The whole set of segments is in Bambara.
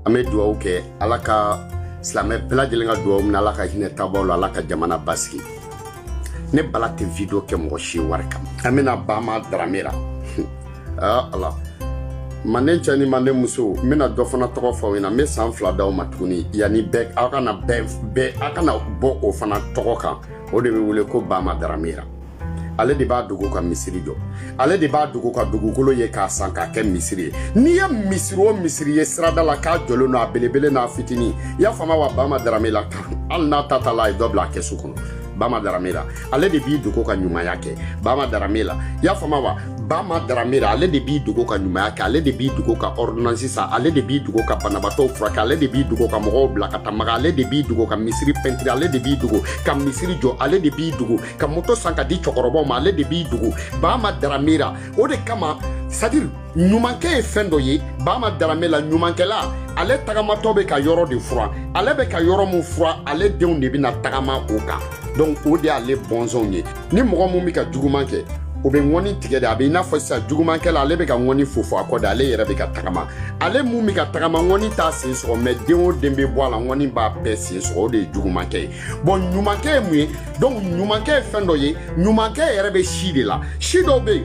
an bɛ dugawu kɛ ala ka silamɛ bɛɛ lajɛlen ka dugawu minɛ ala ka hinɛ taabaw la ala ka jamana basigi ne bala tɛ video kɛ mɔgɔ si wari kama an bɛna bama daramera aa ala manden cɛ ni manden muso n bɛna dɔ fana tɔgɔ fɔ aw ɲɛna n bɛ san fila d'aw ma tuguni yanni bɛɛ aw kana bɔ o fana tɔgɔ kan o de bɛ wele ko bama daramera ale de b'a dogo ka misiri jɔ ale de b'a dogo ka dugukolo ye k'a san k'a kɛ misiri ye n'i ye misiri o misiri ye sirada la k'a jɔlen don a belebele n'a fitinin i y'a faamu wa bama daramera hali n'a ta ta la a ye dɔ bila a kɛsu kɔnɔ bama daramera ale de b'i dogo ka ɲumanya kɛ bama daramera i y'a faamu wa bama daramera ale de b'i dogo ka ɲumanya kɛ ale de b'i dogo ka ordonnance san ale de b'i dogo ka banabaatɔw furakɛ ale de b'i dogo ka mɔgɔw bila ka taa maka ale de b'i dogo ka misiri pɛntiri ale de b'i dogo ka misiri jɔ ale de b'i dogo ka moto san ka di cɛkɔrɔbaw ma ale de b'i dogo bama daramera o de kama c'est-à-dire ɲumankɛ ye fɛn dɔ ye bama daramera ɲumankɛla ale tagamatɔ bɛ ka yɔrɔ de furan ale bɛ ka yɔrɔ min furan ale denw de bɛna tagama o kan donc o de y'ale bɔnsɔnw ye ni mɔgɔ min bɛ ka juguman kɛ o bɛ ŋɔni tigɛ de a bɛ i n'a fɔ sisan jugumankɛla ale bɛ ka ŋɔni fofo a kɔ de ale yɛrɛ bɛ ka tagama ale mun bɛ ka tagama ŋɔni t'a sen sɔgɔ mais den o den bɛ bɔ a la ŋɔni b'a bɛɛ sen sɔgɔ o de ye jugumankɛ ye bon ɲumankɛ ye mun ye donc ɲumankɛ ye fɛn dɔ ye ɲumankɛ yɛrɛ bɛ si de la si dɔw bɛ yen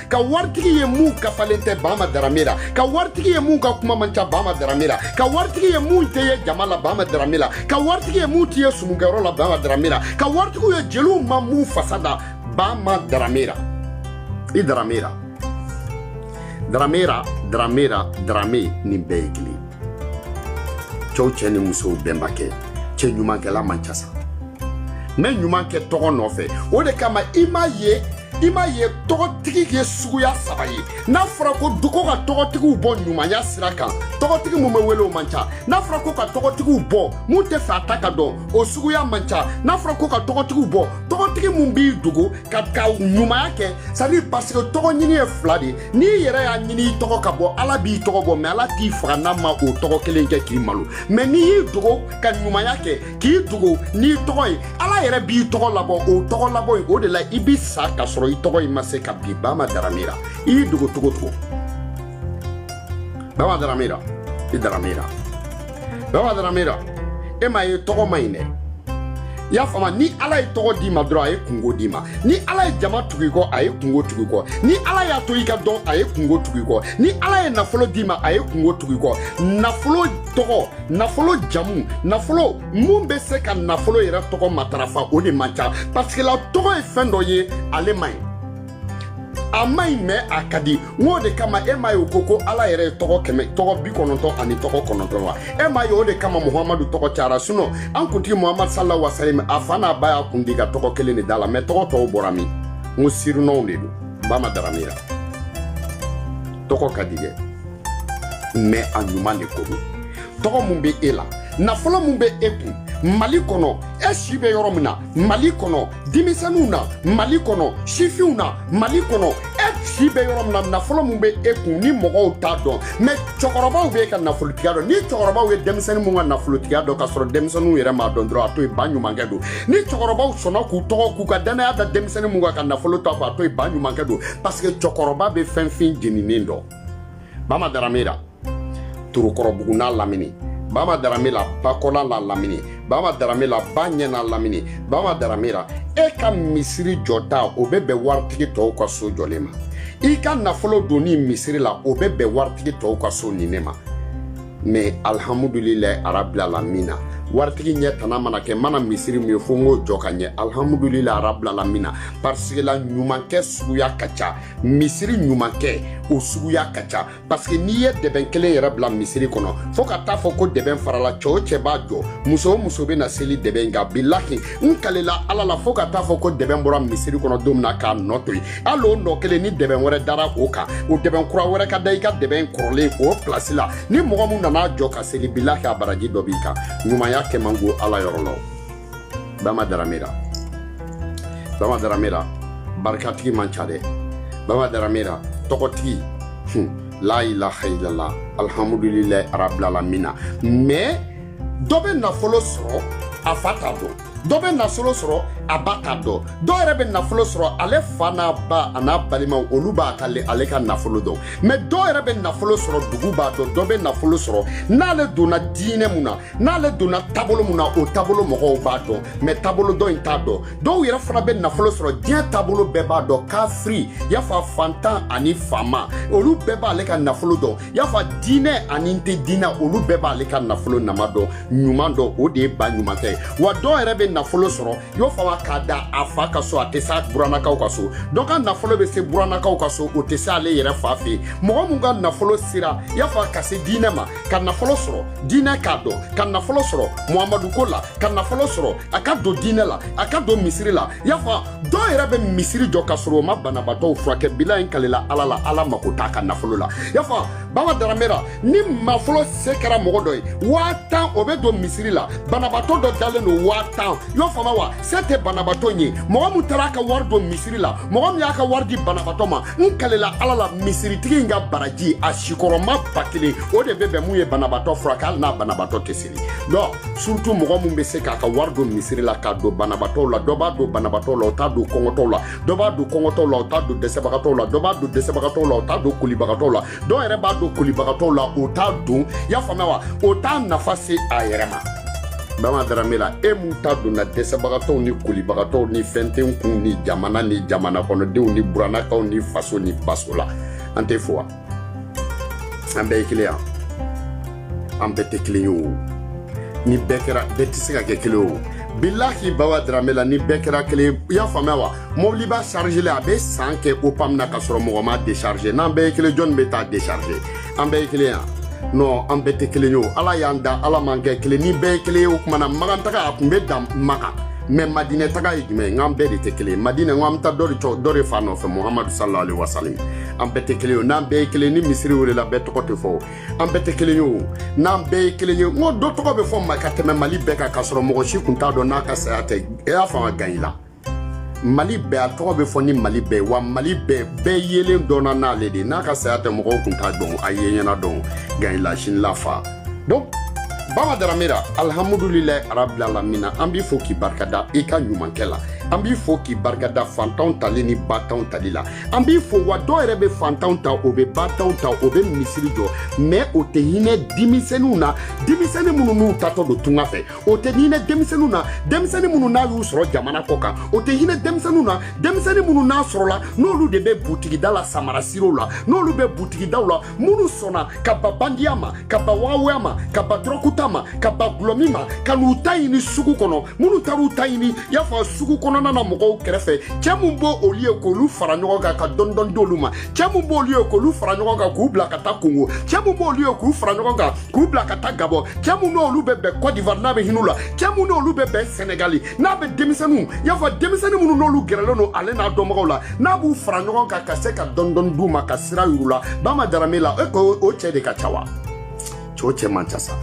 ka waritigi ye mun kafalen tɛ bama daramera ka waritigi ye mun ka kuma man ca bama daramera ka waritigi ye mun tɛ ye jama la bama daramera ka waritigi ye mun tɛ ye sumukɛyɔrɔ la bama daramera ka waritigi ye jeliw ma mun fasa da bama daramera i daramera daramera daramera darame nin bɛɛ ye kelen cɛw cɛ ni musow bɛnbakɛ cɛ ɲumankɛla man ca sa mais ɲuman kɛ tɔgɔ nɔfɛ o de kama i m'a ye i m'a ye tɔgɔtigi ye suguya saba ye n'a fɔra ko dugu ka tɔgɔtigiw bɔ ɲumanya sira kan tɔgɔtigi mun bɛ wele o man ca n'a fɔra ko ka tɔgɔtigiw bɔ mun tɛ fɛ a ta ka dɔn o suguya man ca n'a fɔra ko ka tɔgɔtigiw bɔ tɔgɔtigi mun b'i dogo ka ɲumanya kɛ c'est-à-dire parce que tɔgɔ ɲini ye fila de n'i yɛrɛ y'a ɲini i tɔgɔ ka bɔ ala b'i tɔgɔ bɔ mais ala t'i faga n'a ma o tɔgɔ kelen kɛ k'i malo mais n'i y'i dogo ka ɲumanya kɛ k'i dogo n'i tɔgɔ ye ala yɛrɛ b'i tɔgɔ labɔ o tɔgɔ labɔ in o de la i bi sa k'a sɔrɔ i tɔgɔ in ma se ka bin bama daramera i y'i dogo cogo o cogo bama daramera i daramera bama daramera e m'a ye tɔgɔ man ɲi dɛ i y'a faamu ni ala ye tɔgɔ d'i ma dɔrɔn a ye kunko d'i ma ni ala ye jama tugu i kɔ a ye kunko tugu i kɔ ni ala y'a to i ka dɔn a ye kunko tugu i kɔ ni ala ye nafolo d'i ma a ye kunko tugu i kɔ nafolo tɔgɔ nafolo jamu nafolo min bɛ se ka nafolo yɛrɛ tɔgɔ matarafa o de man ca pasike la tɔgɔ ye fɛn dɔ ye ale man ɲi a man ɲi mɛ a ka di n k'o de kama e m'a ye o ko ko ala yɛrɛ ye tɔgɔ kɛmɛ tɔgɔ bi kɔnɔntɔn ani tɔgɔ kɔnɔntɔn wa e m'a ye o de kama muhamadu tɔgɔ cayara sinɔ an kuntigi muhamadu sala wasalam a fa n'a ba y'a kun di ka tɔgɔ kelen de d'a la mɛ tɔgɔ tɔw bɔra min n ko sirinɔw de don bama daramera tɔgɔ ka di dɛ mɛ a ɲuman de ko don tɔgɔ min bɛ e la nafolo min bɛ e kun mali kɔnɔ e si bɛ yɔrɔ min na mali kɔnɔ denmisɛnninw na mali kɔnɔ sifinw na mali kɔnɔ e si bɛ yɔrɔ min na nafolo min bɛ e kun ni mɔgɔw t'a dɔn mɛ cɛkɔrɔbaw bɛ e ka nafolotigiya dɔn ni cɛkɔrɔbaw ye denmisɛnnin min ka nafolotigiya dɔn k'a sɔrɔ denmisɛnninw yɛrɛ m'a dɔn dɔrɔn a to yen ba ɲumankɛ don ni cɛkɔrɔbaw sɔnna k'u tɔgɔ k'u ka dannaya da denmisɛnnin min kan ka nafolo to a kun a to yen ba ɲumankɛ don parce que cɛkɔrɔba bɛ fɛn fin jeninen dɔn bama daramera torokɔrɔbugu n'a lamini bama daramera bakɔla n'a lamini bama daramera ba ɲɛ n'a lamini bama daramera e ka misiri jɔta o bɛ bɛn waritigi tɔw ka so jɔlen ma i ka nafolo donni misiri la o bɛ bɛn waritigi tɔw ka so nin ne ma mɛ alihamudulilayi arabilalamina waritigi ɲɛ tana mana kɛ mana misiri min ye fo n k'o jɔ ka ɲɛ alihamudulilayi arabilalamina parisike la ɲumankɛ suguya ka ca misiri ɲumankɛ o suguya ka ca pasike n'i ye dɛbɛn kelen yɛrɛ bila misiri kɔnɔ fɔɔ ka taa fɔ ko dɛbɛn farala cɛ o cɛ b'a jɔ muso o muso bɛ na seli dɛbɛn in kan bilahi n kalela ala la fɔɔ ka taa fɔ ko dɛbɛn bɔra misiri kɔnɔ don min na k'a nɔ to yen hali o nɔ kelen ni dɛbɛn wɛrɛ dara o kan o dɛbɛn kura wɛrɛ ka da i ka dɛbɛn kɔrɔlen o pilasi la ni mɔgɔ min nan'a jɔ ka seli bilahi a baraji dɔ b'i kan ɲumanya kɛ man go ala yɔrɔ la bama daramera bama daramera barikatigi man ca dɛ bama daramera tɔgɔtigi la ilaha illallah alhamdulilahi arabilalamina mais dɔ bɛ nafolo sɔrɔ a fa t'a dɔn dɔ bɛ nafolo sɔrɔ a ba t'a dɔn dɔw yɛrɛ bɛ nafolo sɔrɔ ale fa n'a ba an'a balimaw olu b'a ka ale ka nafolo dɔn mɛ dɔw yɛrɛ bɛ nafolo sɔrɔ dugu b'a dɔn dɔ bɛ nafolo sɔrɔ n'ale donna diinɛ mun na n'ale donna taabolo mun na o taabolo mɔgɔw b'a dɔn mɛ taabolo dɔ in t'a dɔn dɔw yɛrɛ fana bɛ nafolo sɔrɔ diɲɛ taabolo bɛɛ b'a dɔn kafiri y'a fɔ fantan ani faama olu bɛɛ b'ale ka nafolo dɔn i y'a fɔ diinɛ ani n tɛ diinɛ olu bɛɛ b'ale ka nafolo nama dɔn ɲuman dɔn o de ye ba ɲumankɛ ye wa dɔw yɛrɛ bɛ nafolo sɔrɔ i y'o faamu k'a da a fa ka so a tɛ s'a buranakaw ka so dɔ ka nafolo bɛ se buranakaw ka so o tɛ se ale yɛrɛ fa fɛ yen mɔgɔ min ka nafolo sera i y'a fɔ ka se diinɛ ma ka nafolo sɔrɔ diinɛ k'a dɔn ka nafolo sɔrɔ muhamadu ko la ka nafolo sɔrɔ a ka don diinɛ la a ka don misiri la i y'a fɔ dɔw yɛrɛ bɛ misiri jɔ ka sɔrɔ o ma banabaatɔw furakɛ bilahi n kalela ala la ala mako t'a ka nafolo la y'a fɔ baba daramera ni nafolo se kɛra mɔgɔ dɔ ye waa tan o bɛ don misiri la banabaatɔ dɔ dalen don waa tan y'a faamu wa se tɛ banabaatɔ ye mɔgɔ min taara a ka wari don misiri la mɔgɔ min y'a ka wari di banabaatɔ ma n kalela ala la misiritigi in ka baraji a sigiyɔrɔma ba kelen o de bɛ bɛn min ye banabaatɔ furakɛ hali n'a banabaatɔ tɛ se dɔn surtout mɔgɔ min bɛ se k'a ka wari don misiri la k'a don banabatɔw la dɔ b'a don banabatɔw la o t'a don kɔngɔtɔw la dɔ b'a don kɔngɔtɔw la o t'a don dɛsɛbagatɔw la dɔ b'a don dɛsɛbagatɔw la o t'a don kolibagatɔw la dɔw yɛrɛ b'a don kolibagatɔw la o t'a don i y'a faamuya wa o t'a nafa se a yɛrɛ ma bama daramera e mun ta donna dɛsɛbagatɔw ni kolibagatɔw ni fɛn tɛ n kun ni jamana ni jamana kɔnɔdenw ni buranakaw ni faso ni baso la an t'i fo wa an bɛɛ ye kelen ye an bɛɛ tɛ kelen ye o ni bɛɛ kɛra bɛɛ tɛ se ka kɛ kelen o bilahi bawa daramera ni bɛɛ kɛra kelen i y'a faamuya wa mɔbiliba chargélen a bɛ san kɛ o pam na ka sɔrɔ mɔgɔ m'a décharger n'an bɛɛ ye kelen jɔni bɛ taa décharger an bɛɛ ye kelen ye non an bɛɛ tɛ kelen ye o ala y'an da ala m'an kɛ kelen ni bɛɛ ye kelen ye o tuma na makan taga a tun bɛ dan makan mɛ madinɛ taga ye jumɛn ye n k'an bɛɛ de tɛ kelen ye madinɛ n ko an bɛ taa dɔ de cɔ dɔ de fa nɔfɛ muhamadu sallallahu alaihi wasallam an bɛɛ tɛ kelen ye n'an bɛɛ ye kelen ni misiri welela bɛɛ tɔgɔ tɛ fɔ an bɛɛ tɛ kelen ye o n'an bɛɛ ye kelen ye mɔgɔ dɔ tɔgɔ bɛ fɔ ma ka tɛmɛ mali bɛɛ kan ka sɔrɔ mɔgɔ si kun t'a dɔn n'a ka saya tɛ e y'a faamu gan i la mali bɛɛ a tɔgɔ bɛ fɔ ni mali bɛɛ wa mali bɛɛ bɛɛ yelen dɔnna n'ale de n'a ka saya tɛ mɔgɔw kun t'a dɔn a ye ɲɛna dɔn gan i la sini lafa donc baba daramera alhamdulilayi arabil alamina an b'i fo k'i barikada i ka ɲumankɛ la an b'i fo k'i barikada fantanw tali ni bantanw tali la an b'i fo wa dɔw yɛrɛ bɛ fantanw ta o bɛ bantanw ta o bɛ misiri jɔ mɛ o tɛ hinɛ denmisɛnninw na denmisɛnnin minnu n'u taatɔ don tunga fɛ o tɛ hinɛ denmisɛnninw na denmisɛnnin minnu n'a y'u sɔrɔ jamana kɔ kan o tɛ hinɛ denmisɛnninw na denmisɛnnin minnu n'a sɔrɔla n'olu de bɛ butigida la samara siro la n'olu bɛ butigidaw la minnu sɔnna ka ban bandiya ma ka ban waawuya ma ka ban dɔrɔguta ma ka ban dɔlɔmin ma ka n'u ta ɲini sugu kɔnɔ minnu taar'u ta ɲini y'a fɔ sugu kɔnɔna na mɔgɔw kɛrɛfɛ cɛ min b'olu ye k'olu fara ɲɔgɔn kan ka dɔndɔn d'olu ma cɛ min b'olu ye k'olu fara ɲɔgɔn kan k'u bila ka taa kongo cɛ min b'olu ye k'u fara ɲɔgɔn kan k'u bila ka taa gabɔn cɛ min n'olu bɛ bɛn kɔdivar n'a bɛ hin'u la cɛ min n'olu bɛ bɛn sɛnɛgali n'a bɛ denmisɛnninw i y'a fɔ denmisɛnnin minnu n'olu gɛrɛlen don ale n'a dɔnbagaw la n'a b'u fara ɲɔgɔn kan ka se ka dɔndɔni d'u ma ka sira yuru la Bama Darame la e ko o cɛ de ka ca wa cɛ o cɛ man ca sa i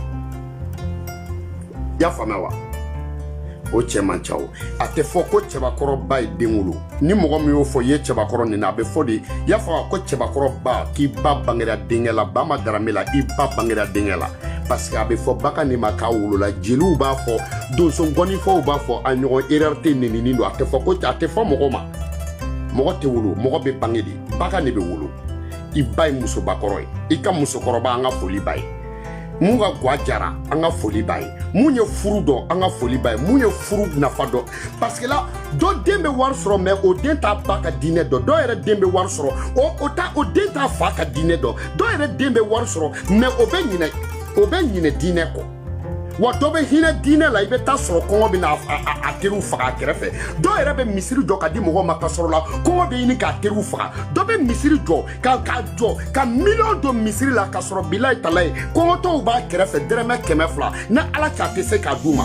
y'a faamu wa o cɛ man ca o a tɛ fɔ ko cɛbakɔrɔ ba ye den wolo ni mɔgɔ min y'o fɔ ye cɛbakɔrɔ nin na a bɛ fɔ di i y'a fɔ ko cɛbakɔrɔ ba k'i ba bangera denkɛ la Bama Darame la i ba bangera denkɛ la parce que a bɛ fɔ bagan de ma k'a wolola jeliw b'a fɔ donsongɔnifɔw b'a fɔ a ɲɔgɔn erreur tɛ nenini don a tɛ fɔ ko a tɛ fɔ mɔgɔ ma mɔgɔ tɛ wolo mɔgɔ bɛ bange de bagan de bɛ wolo i ba ye musobakɔrɔ ye i ka musokɔrɔba an ka foli b'a ye mun ka gwa jara an ka foli b'a ye mun ye furu dɔn an ka foli b'a ye mun ye furu nafa dɔn parce que là dɔ den bɛ wari sɔrɔ mais o den t'a ba ka diinɛ dɔn dɔ yɛrɛ den bɛ wari sɔrɔ o o t'a o den t'a fa ka diinɛ dɔn dɔ yɛrɛ den bɛ wari sɔrɔ mais o bɛ ɲinɛ o bɛ ɲinɛ diinɛ kɔ wa dɔ bɛ hinɛ diinɛ la i bɛ taa sɔrɔ kɔngɔ bɛ na a teriw faga a kɛrɛfɛ dɔ yɛrɛ bɛ misiri jɔ ka di mɔgɔw ma ka sɔrɔ la kɔngɔ bɛ ɲini k'a teriw faga dɔ bɛ misiri jɔ k'a jɔ ka miliyɔn don misiri la ka sɔrɔ bilayi talayi kɔngɔtɔw b'a kɛrɛfɛ dɛrɛmɛ kɛmɛ fila ni ala cɛ a tɛ se k'a d'u ma.